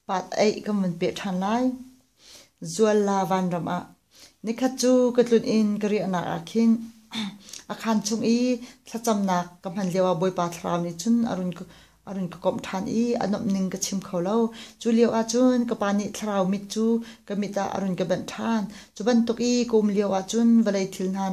Pateih kan vun peh ṭhan lai. Zualla vanram ah. Nikhat cu ka tlun in ka riahnak ah khin a khan chung i thlacamnak ka hman lioah Bawipa Thlarau nih cun a run ka a run ka komh ṭhan i a nuamh ning ka chim kho lo. Cu lioah cun ka pa nih thlarau mit cu ka mit ah a run ka banh ṭhan. Cu bantuk i ka um lioah cun vawlei thil hna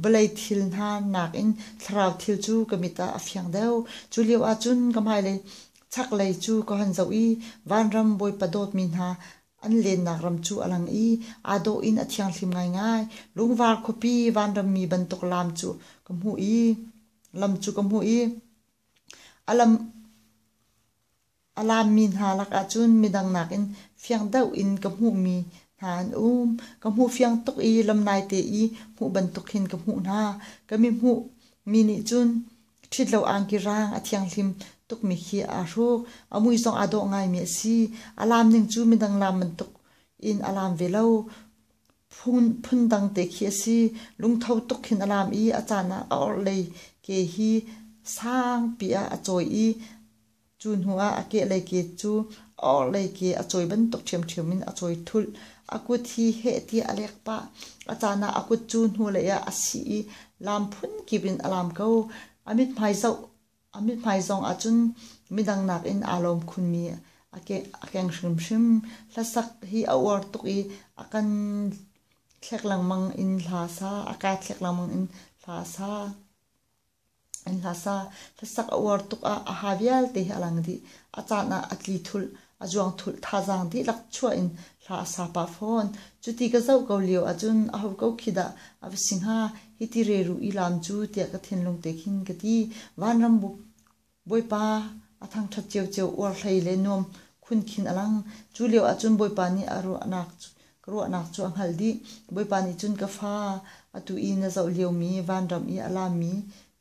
vawlei thil hna nakin thlarau thil cu ka mit ah a fiang deuh. Cu lio ahcun ka hmailei chaklei cu ka han zoh i vanram Bawipa dawtmi hna an lennak ram cu a lang i aa dawh in a thianghlim ngaingai. Lungvar khuapi vanrammi bantuk lam cu ka hmuh i lam cu ka hmuh i a lam A laammi hna lakah cun midang nakin fiang deuh in ka hmuhmi hna an um. Ka hmuh fiang tuk i lam naite i hmuh bantuk hin ka hmuh hna. Ka mihmuh mi nih cun ṭhitlo angki raang a thianghlim tukmi khi aa hruk. A mui zong aa dawh ngaimi a si. A laam ning cu midang laam bantuk in a laam ve lo. Phundang te khi a si. Lungtho tuk hin a laam i a caan ah a orhlei ke hi sangpi ah a cawi i Cu hnuah a kehlei ke cu a orhlei ke a cawi bantuk ṭhiamṭhiam in a cawi thulh. A kut hi heh tiah a lek pah. A caan ah a kut cu hnulei ah a sih i laam phunkip in a laam ko. A mithmai zoh a mithmai zong ahcun midang nakin aa lawm khunmi a keng hrimhrim. Hlasak hi a uar tuk i a kan thlek lengmang in hla sa, a kaa thlek lengmang in hla sa. Hlasa hlasak a uar tuk ah a ha vialte hi a lang dih. A caan ah a tli thulh, a juang thulh, thazaang dihlak chuah in hla a sa pah fawn. Cuti ka zoh ko lio ahcun a ho ko khi dah a va si hnga, hiti reru i laam cu tiah ka thinlung te khin ka ti. Vanram buuk Bawipa, a thangṭhat ciocio, uarhlei le nuam khun khin a lang. Cu lioah cun Bawipa nih a ruahnak cu ka ruahnak cu a hngalh dih. Bawipa nih cun ka fa, atu i na zoh liomi vanram i a lami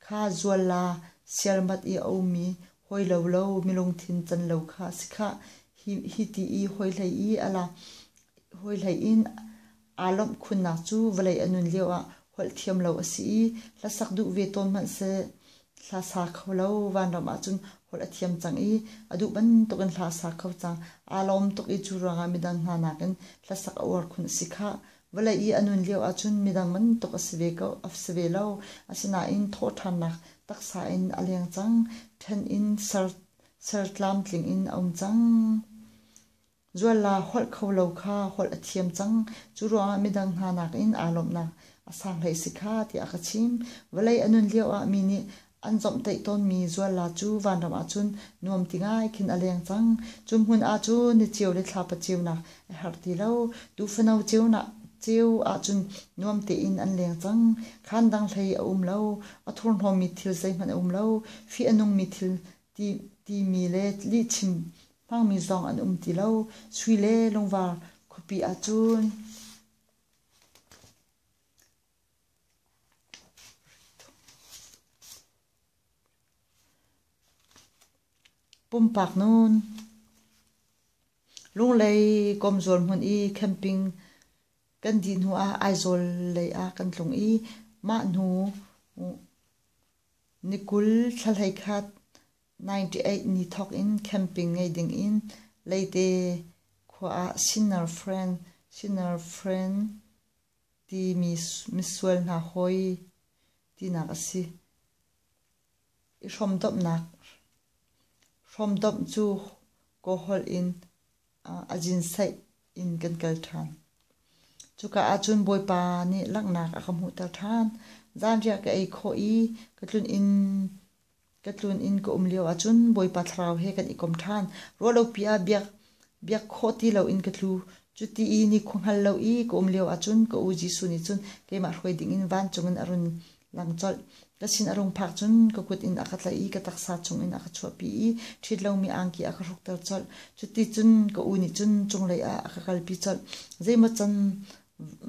kha zual la, siarmat i a ummi hawi lo lo milungthin can lo kha a si khah. Hi ti i hawi hlei i a la, hawi hlei in Aa lawmh khunnak cu vawlei a nun lioah holh thiam lo a si i hlasak duh ve tawn hmanhseh, hla sa kho lo vanram ahcun holh a thiam cang i a duh bantukin hla sa kho cang. Aa lawm tuk i cu ruangah midang hna nakin hlasak a uar khun a si khah. Vawlei i a nun lio ahcun midang bantuk a si ve ko, a si ve lo. Asinain thawhṭhannak taksa in a leng cang, ṭhen in ser tlamtling in a um cang. Zualla holh kho lo kha holh a thiam cang. Cu ruangah midang hna nakin aa lawmhnak a sang hlei si kha tiah a ka chim. Vawlei a nun lioah mi nih an zomhtaih tawnmi Zualla cu vanram ahcun nuam ti ngai khin a leng cang. Cu hmun ahcun ni cio le thlapa ceunak a herh ti lo. Tuufano ceu ahcun nuam tein an leng cang. Khaan dang hlei a um lo. A thurhnawmmi thil zeihmanh a um lo. Fih a nungmi thil timi le lihchim Hmangmi zong an um ti lo. Sui le lungvar khuapi ahcun pumpak nun Lunglei komzual hmun i camping kan dih hnu ah Aizawl lei ah kan tlung i mah hnu ni kul thla hlei khat 98 ni thawk in camping ngei ding in Leite khua ah Sinner Friend, Sinner Friend timi misual hna hawi tinak a si i hrawmdomhnak. Hrawmdomh cu kawholh in a jinsaih in kan kal ṭhan. Cuka ahcun Bawipa nih langhnak a ka hmuhter ṭhan. Zanriah ka ei khawh i ka tlun inn Ka tlun in ka um lio ahcun Bawipa Thlarau he kan i kom ṭhan. Ruah lopi ah biak, biak khawh ti loin ka tlu. Cuti i ni khua hngal lo i ka um lio ahcun ka u Jesuh nih cun keimah hruai dingin vancung in a run lang colh. Ka sin a rung phak cun ka kut in a ka tlaih i ka taksa chungin a ka chuahpi i ṭhit lomi angki a ka hrukter colh. Cuticun ka u nih cun cunglei ah a ka kalpi colh. Zeimaw can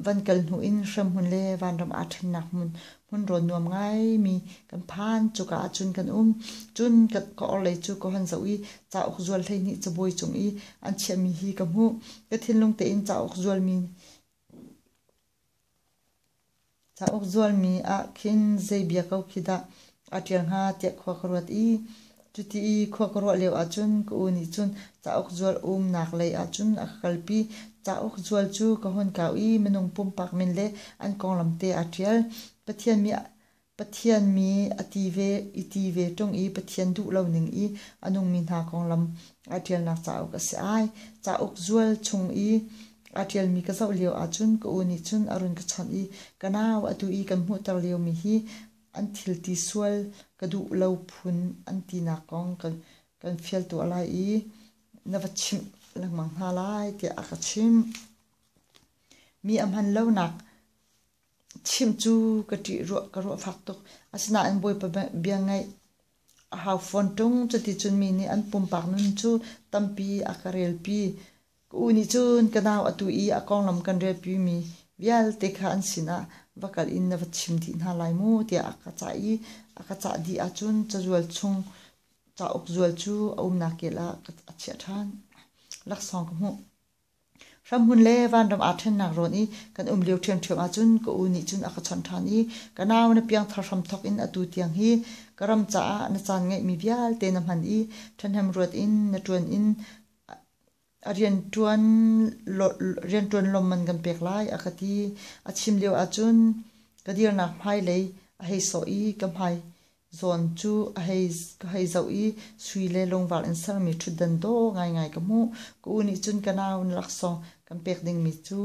van kal hnu in hremhmun le vanram aa ṭhennak hmun hmun rawn nuam ngaimi kan phan cuka ah cun kan um cun ka, ka orhlei cu ka hon zoh i cauk zual hleihnih cabuai cung i an chiahmi hi ka hmuh ka thinlung tein cauk zualmi Cauk zualmi ah khin zei bia ko khi dah a ṭial hnga tiah khua ka ruat i cuti i khua ka ruah lio ahcun ka u nih cun cauk zual umnak lei ahcun a ka kalpi. Cauk zual cu ka hun kau i minung pumpak min le an konglam te aa ṭial. Pathian mi Pathian mi a ti ve i ti ve ṭung i Pathian duh lo ning i a nungmi hna konglam aa ṭialnak cauk a si ai. Cauk zual chung i Aa ṭialmi ka zoh lio ahcun ka u nih cun a run ka chawnh i ka nau atu i kan hmuhter liomi hi an thil ti sual ka duh lo phun an tinak kong kan kan fial tuah lai i na va chimh lengmang hna lai tiah a ka chimh. Mi a hman lonak chimh cu ka ṭih ruah ka ruah fak tuk. Asinain Bawipa bia ngaih a hau fawn ṭung. Cuticun mi nih an pumpak nun cu tampi a ka relpi. Ka u nih cun ka nau atu i a konglam kan relpimi vialte kha an sinah va kal in na va chim dih hna lai mu, tiah a ka cah i a ka cah dih ahcun cazual chung cauk zual cu a umnak kel ah a chiah ṭhan. Laksawng ka hmuh. Hramhmun le vanram aa ṭhennak rawn i kan um lio ṭhiamṭhiam ahcun ka u nih cun a ka chawnh ṭhan i ka nau na piangthar hramthawk in atu tiang hi ka ram caah na caan ngeihmi vialte na hman i ṭhahnem ruat in na ṭuan in rianṭuan lawm man kan pek lai a ka ti. A chim lio ahcun ka dirnak hmailei a hei sawh i ka hmai zawn cu a hei zoh i sui le lungvar in sermi ṭhutdan daw ngaingai ka hmuh. Ka u nih cun ka nau laksawng kan pek dingmi cu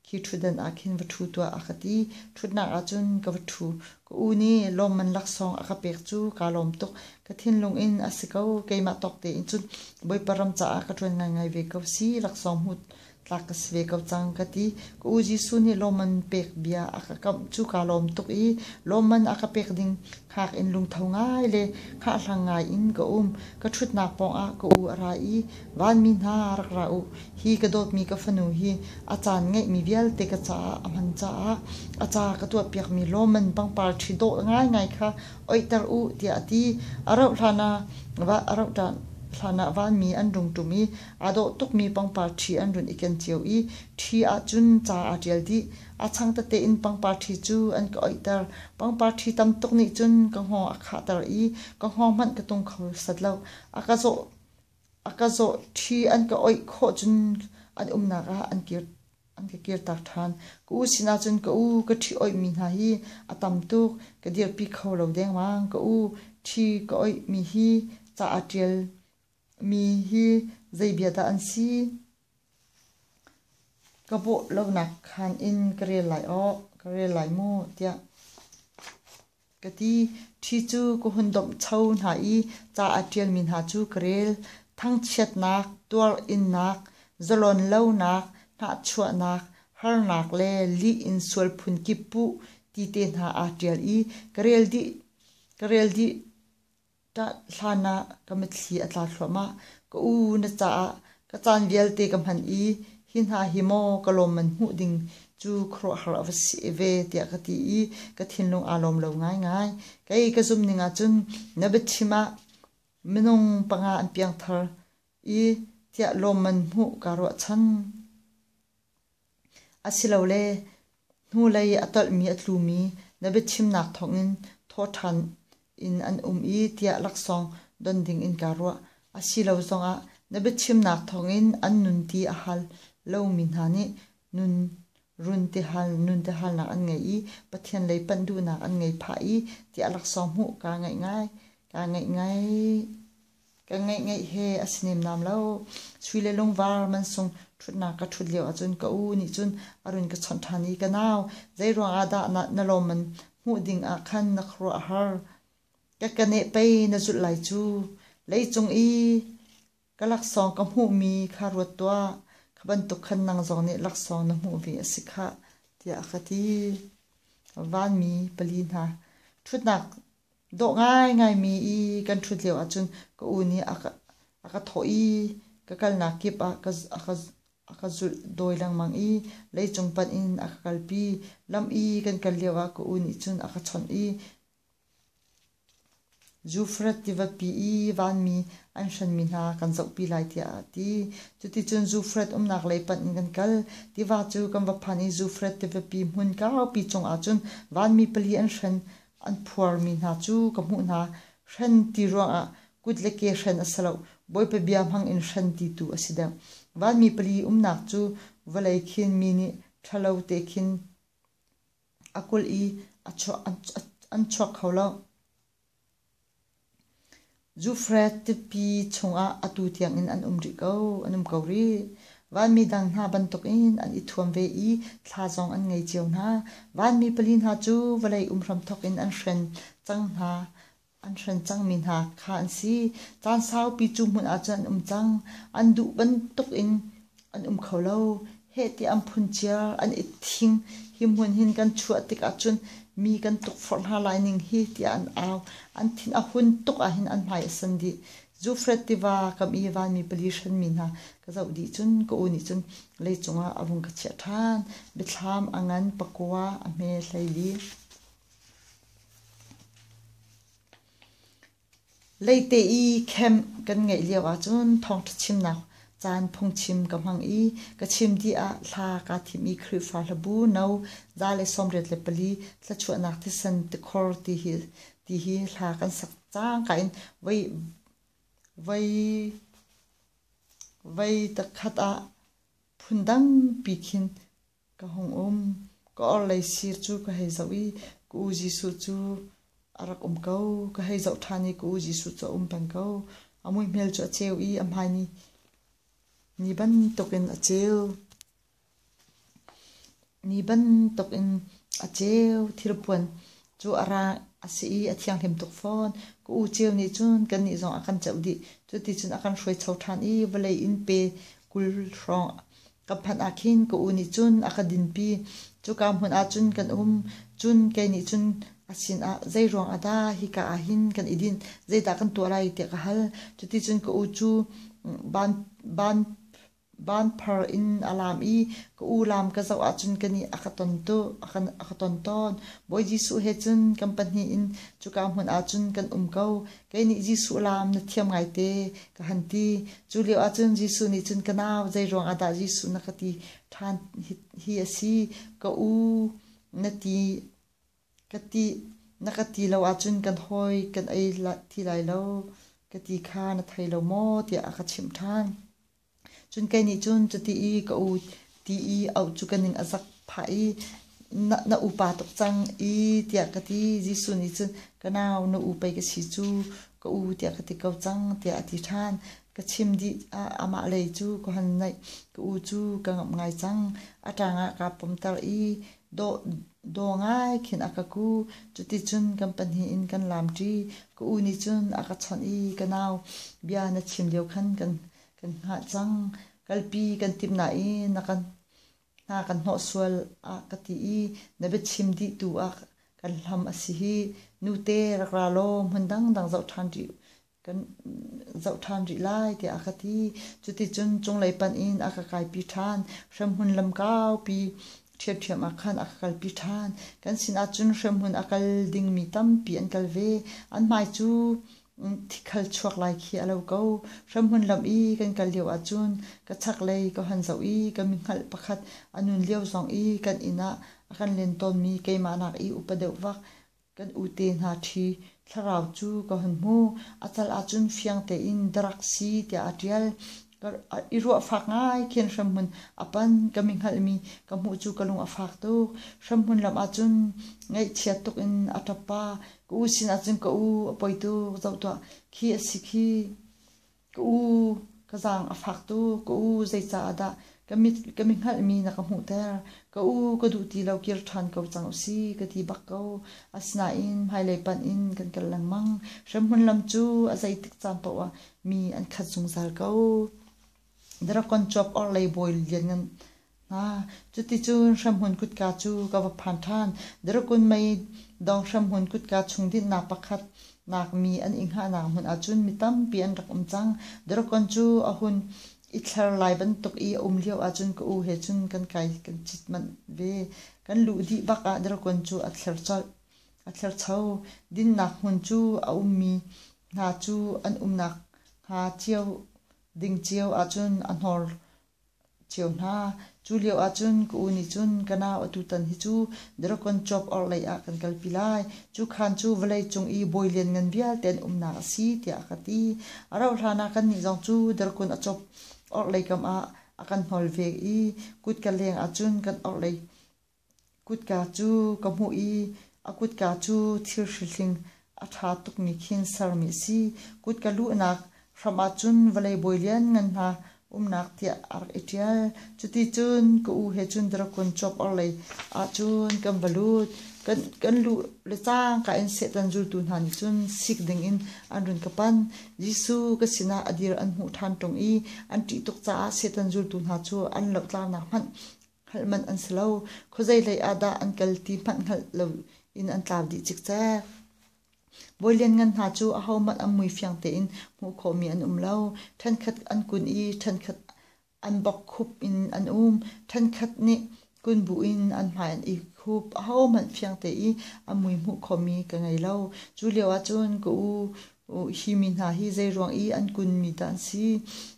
Khi ṭhutdan ah khin va ṭhu tuah, a ka ti. Ṭhutnak ah cun ka va ṭhu. Ka u nih lawmman laksawng a ka pek cu kaa lawm tuk. Ka thinlung in, A si ko, keimah tawk tein cun Bawipa ram caah ka ṭuan ngaingai ve ko si, laksawng hmuh tlak ka si ve ko cang, ka ti. Ka u Jesuh nih lawmman pek bia a ka kamh cu kaa lawm tuk i lawmman a ka pek ding Khak in lungtho ngai le khahlang ngai in ka um. Ka ṭhutnak pawngah ka u a ra i, Vanmi hna rak ra u. Hi ka dawtmi ka fanu hi a caan ngeihmi vialte ka caah a hman caah a ca ka tuahpiakmi lawman pangpar ṭhi dawh ngaingai kha oihter u tiah a ti. A rauh hlan ah a rauh hlan ah vanmi an rung ṭum i aa dawh tukmi pangpar ṭhi an run i ken cio i ṭhi ahcun ca aa ṭial dih. A chang tete in pangpar ṭhi cu an ka oihter. Pangpar ṭhi tam tuk nih cun ka hngawng a khahter i ka hngawng hmanh ka tung kho set lo. A ka zawh, a ka zawh ṭhi an ka oih khawh cun an umnak ah an kir an ka kirter ṭhan. Ka u sinah cun ka u ka ṭhi oihmi hna hi a tam tuk ka dirpi kho lo dengmang. Ka u ṭhi ka oihmi hi ca aa ṭial mi hi zeibia dah an si? Ka bawh lonak khan in ka rel lai aw, ka rel lai mu, tiah ka ti. Ṭhi cu ka hun domhcho hna i ca a ṭialmi hna cu ka rel. Thangchiatnak, tuarinnak, zalon lonak, hnahchuahnak, harnak le lih in sual phun kip puh ti te hna aa ṭial i ka rel dih, ka rel dih. Ṭah hlanah ka mitthli a tla thluahmah. Ka u na caah ka caan vialte ka hman i hi hna hi maw ka lawm man hmuh ding cu khuaruahhar a va si ve tiah ka ti i ka thinlung aa lawm lo ngaingai. Kei ka zumning ahcun na biachim ah minung panga an piangthar i tiah lawmman hmuh kaa ruahchan. Asilole hnulei a tolhmi a tlumi na biachimnak thawngin thawhṭhan in an um i tiah laksawng don dingin kaa ruah. Asilo zongah na biachimnak thawngin an nun ti a hal lomi hna nih nun runtihal nuntihalnak an ngei i Pathian lei panh duhnak an ngei phah i tiah laksawng hmuh kaa ngaih ngai. Kaa ngaih ngai. kan ngeih he a si nem nam lo chui le lungvar mansung ṭhutnak ka ṭhut lio ahcun ka u nih cun a run ka chawnh ṭhan i ka nau zei ruang ah dah na lawm an hmuh ding ah khan na khuaruah a har ka ka neh pei na zulh lai cu leicung i ka laksawng ka hmuhmi kha ruat tuah kha bantuk khan nang zong nih laksawng na hmuh ve a si khah tiah a ka ti vanmi pali hna ṭhutnak Dawh ngaingaimi i kan ṭhut lio ahcun ka u nih a ka, a ka thawh i ka kalnak kip ah ka, a ka, a ka zulh dawi lengmang i leicung panh in a ka kalpi. Lam i kan kal lio ah ka u nih cun a ka chawnh i Zufrat tivapi i vanmi an hranmi hna kan zohpi lai tiah a ti. Cuticun Zufrat umnak lei panh in kan kal. Tiva cu kan va phan i Zufrat tivapi hmun kaupi cung ahcun vanmi pali an hran. an phuarmi hna cu ka hmuh hna. Hren ti ruangah kut le ke hren a si lo, Bawipa bia hmang in hren ti tu a si deuh. Vanmi pali umnak cu vawlei khin mi nih ṭhalo te khin a kulh i a chuak kho lo. Zufret tipi chungah atu tiangin an um rih ko. An um ko rih. Vanmi dang hna bantukin an i thuam ve i thla zong an ngei cio hna. Vanmi pali hna cu vawlei um hramthawk in an hren cang hna. An hren cangmi hna kha an si. Caan saupi cu hmun ahcun an um cang. An duh bantukin an um kho lo. Heh ti an phun cia, an i thing. Hi hmun hin kan chuah tikah cun mi kan tukforh hna lai ning hi tiah an au. An thin a hun tuk ahhin an hmai a san dih. Zufret tiva kam i vanmi pali hrenmi hna ka zoh dih cun ka u nih cun lei cungah a vung ka chiah ṭhan. Biathlam a ngan, pakua a hme hlei li. Leite i camp kan ngeih lio ahcun thawngṭha chimnak caan phungchim ka hmang i ka chim dih ah thla kaa thim i Khrihfa hlabu no za le sawmriat le pali thluachuahnak thisen tikhor ti hi ti hi hla kan sak cangka in voi voi voi takhat ah phundangpi khin Ka hung um. Ka orhlei sir cu ka hei zoh i ka u Jesuh cu a rak um ko. Ka hei zoh ṭhan i ka u Jesuh cu a um peng ko. A muihmel cu a ceu i a hmai ni, ni bantukin a ceu. Ni bantukin a ceu. Thilpuan cu a ra a si i a thianghlim tuk fawn. Ka u ceu nih cun kannih zong a kan ceuh dih. Cuti cun a kan hruaicho ṭhan i vawlei in pe kul hrawng Ka phanh ah khin ka u nih cun a ka dinpi. Cuka hmun ah cun kan um. Cun kei nih cun a sinah, Zei ruang ah dah hika ah hin kan i dinh? Zeidah kan tuah lai? tiah ka hal. Cuticun ka u cu van van van phar in a laam i ka u laam ka zoh ahcun ka nih a ka ton tu a ka, a ka ton tawn. Bawi Jesuh he cun kan pahnih in cuka hmun ah cun kan um ko. Kei nih Jesuh lam na thiam ngaite ka han ti. Cu lio ahcun Jesuh nih cun ka nau zei ruang ah dah Jesuh na ka ti ṭhan hi a si ka u na ti ka ti na ka ti lo ahcun kan hawi kan ei thi lai lo ka ti kha na thei lo maw tiah a ka chimh ṭhan. Cun kei nih cun cuti i ka u ti i auh cu ka ning a zak phah i na, na upa tuk cang i tiah ka ti. Jesuh nih cun ka nau na u pei ka si cu ka u tiah ka ti ko cang tiah a ti ṭhan. Ka chim dih ah amah lei cu ka hun naih. Ka u cu ka ngamh ngai cang. A ṭang ah kaa pumter i Daw ngai khin a ka ku. Cuticun kan pahnih in kan laamṭi. Ka u nih cun a ka chawnh i ka nau bia na chim lio khan kan hngah cang. Kalpi kan timh nain hna kan hnawh sual a ka ti i na biachim dih tu ah kan hlam a si hi. Nute rak ra law hmun dangdang zoh ṭhan ṭi kan zoh ṭhan rih lai tiah a ka ti. Cuticun cunglei panh in a ka kaipi ṭhan. Hremhmun lam kaupi ṭhiamṭhiam ah khan a ka kalpi ṭhan. Kan sinah cun hremhmun a kal dingmi tampi an kal ve. An hmai cu thikhal chuak lai khi a lo ko. Hremhmun lam i kan kal lio ahcun ka chaklei ka hon zoh i ka mihngalh pakhat a nun lio zong i kan inn ah a kan len tawnmi keimah nak i upa deuh vak Kan ute hna ṭhi, thlarau cu ka hun hmuh, a cal ahcun fiang tein ka rak si tiah a ṭial. Ka i ruah fak ngai khin hremhmun a pan ka mi hngalhmi ka hmuh cu ka lung a fak tuk. Hremhmun lam ahcun ngaihchiat tuk in a ṭap pa, ka u sin ahcun ka u a poi tuk, zoh tuah khi a si khi. Ka u, ka zaang a faktu ka u, zeicaah dah ka mi hngalhmi na ka hmuhter? Ka u, ka duh ti lo kir ṭhan ko cang u sih, ka ti bak ko. Asinain hmailei panh in kan kal lengmang. Hremhmun lam cu a zeitik caan paoh ah mi an khat zungzal ko. Dragon Chuap orhlei bawi lianngan Cuticun Hremhmun kutka cu ka va phan ṭhan. Darkun mei dawng Hremhmun kutka chung dinhnak pakhatnak mi an i hngahnak hmun ahcun mi tampi an rak um cang. Darkun cu a hun i thler lai bantuk i a um lio ahcun ka u he cun kan kai kan cit manh ve. Kan luh dih bak ah darkun cu a thler colh. A thlercho. Dinnak hmun cu a ummi hna cu an umnak hnga cio ding cio ahcun a hnor Cheu hna, cu lio ahcun ka u nih cun ka nau atutan hi cu Dragon Chop orhlei ah kan kalpi lai. Cu khaan cu vawlei cung i bawi lianngan vialte an umnak a si tiah a ka ti. A rauhhlan ah kannih zong cu Dragon a chop orhlei kam ah a kan hnawl ve i kutka leng ahcun kan orhlei Kutka cu ka hmuh i a kutka cu thil hrihhling a ṭha tuk nih khin sermi a si. Kutka luhnak hram ahcun vawlei bawi lianngan hna umnak tiah a rak i ṭial. Cuticun ka u he cun dragon cuap orhlei ahcun kan va lut. Kan, kan luh le cangka in Satan zultu hna nih cun sik dingin an run ka panh. Jesuh ka sinah a dir an hmuh ṭhan ṭung i an ṭih tuk caah Satan zultu hna cu an lohtlaunak hmanh Hngalh manh an si lo. Khuazei lei ah dah an kal ti hmanh hngalh lo in an tlau dih cikcek. Bawi lianngan hna cu ahohmanh an mui fiang tein hmuh khawhmi an um lo. Ṭhenkhat an kun i ṭhenkhat an bokkhup in an um. Ṭhenkhat nih kun bu in an hmai an i hup. Ahohmanh fiang te i an mui hmuh khomi ka ngei lo. Cu lio ahcun ka u hi mi hna hi zeiruang i an kunmi dah an si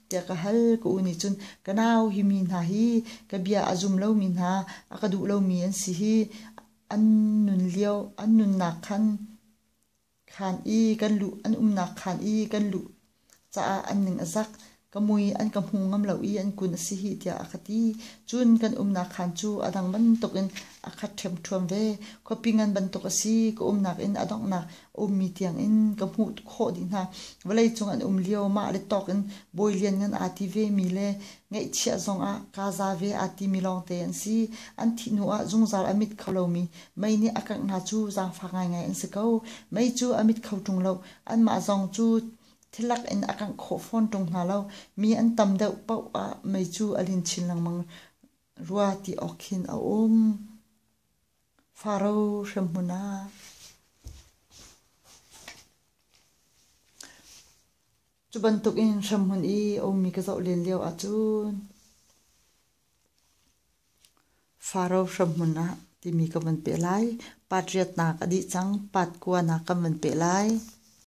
tiah ka hal ka u nih cun ka nau hi mi hna hi ka bia a zum lomi hna a ka duh lomi an si hi an nun lio an nunnak khan khan i kan luh an umnak khan i kan luh caah an ning a zak ka mui an ka hmu ngam lo i an kun a si hih tiah a ka ti. Cun kan umnak khaan cu a dang bantuk in a khat ṭhiamṭhuam ve. Khuapi ngan bantuk a si. Ka umnak in a donghnak a ummi tiang in ka hmuh khawh dih hna. Vawleicung an um lio mah le tawk in bawi lianngan aa ti vemi le ngeihchiah zong ah kaa za ve aa timi lawngte an si. An thih hnu ah zungzal a mit kho lomi mei nih a kangh hna cu zaangfak ngaingai an si ko. Mei cu a mit kho ṭung lo. Anmah zong cu Thilak in a kangh khawh fawn ṭung hna lo. Mi an tam deuh paoh ah mei cu a lin chin lengmang rua ti awk khin a um. Faro hremhmun ah. Cu bantuk in hremhmun i a ummi ka zoh len lio ahcun Faro hremhmun ah timi ka van peh lai. Patriotnak a dih cang. Patkuanak kan van peh lai.